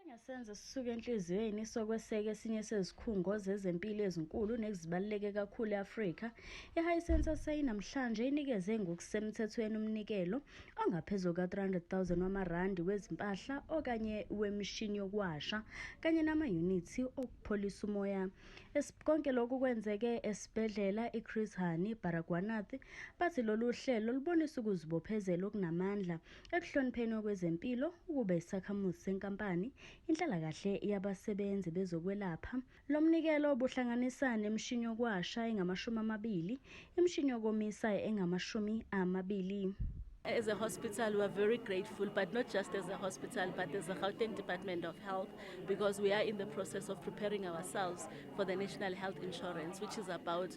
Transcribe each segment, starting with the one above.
Engesenzo sisuka enhliziyweni sokweseka esinye sezikhungo zezempilo ezinkulu nezibaluleke kakhulu e-Afrika, iHisense SA namhlanje inikeze ngokusemthethweni umnikelo ongaphezulu ka-R300,000 wamarandi wezimpahla okanye wemishini yokuwasha kanye namayunithi okupholisa umoya. Konke lokhu kwenzeke esibhedlela iChris Hani Baragwanath bathi lolu hlelo lubonisa ukuzibophezela okunamandla Ekuhlonipheni okwezempilo, ukube isakhamuzi senkampani, inhlalakahle yabasebenzi bezokwelapha. Lo mnikelo ubuhlanganisa nemishini yokwasha engamashumi amabili, imishini yokomisa engamashumi amabili. As a hospital, we are very grateful, but not just as a hospital, but as the Gauteng Department of Health, because we are in the process of preparing ourselves for the National Health Insurance, which is about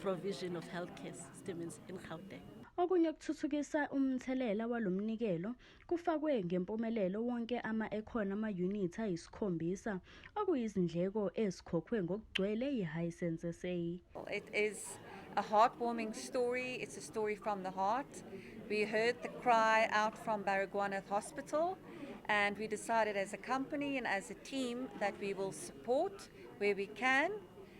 provision of healthcare systems in Gauteng. Okunye kuthuthukisa umthelela walomnikelo kufakwe ngempumelelo wonke ama ekhona ama unit ayisikhombisa okuyizindleko ezikhokhwe ngokugcwele yiHisense SA. It is a heartwarming story. It's a story from the heart. We heard the cry out from Baragwanath Hospital and we decided as a company and as a team that we will support where we can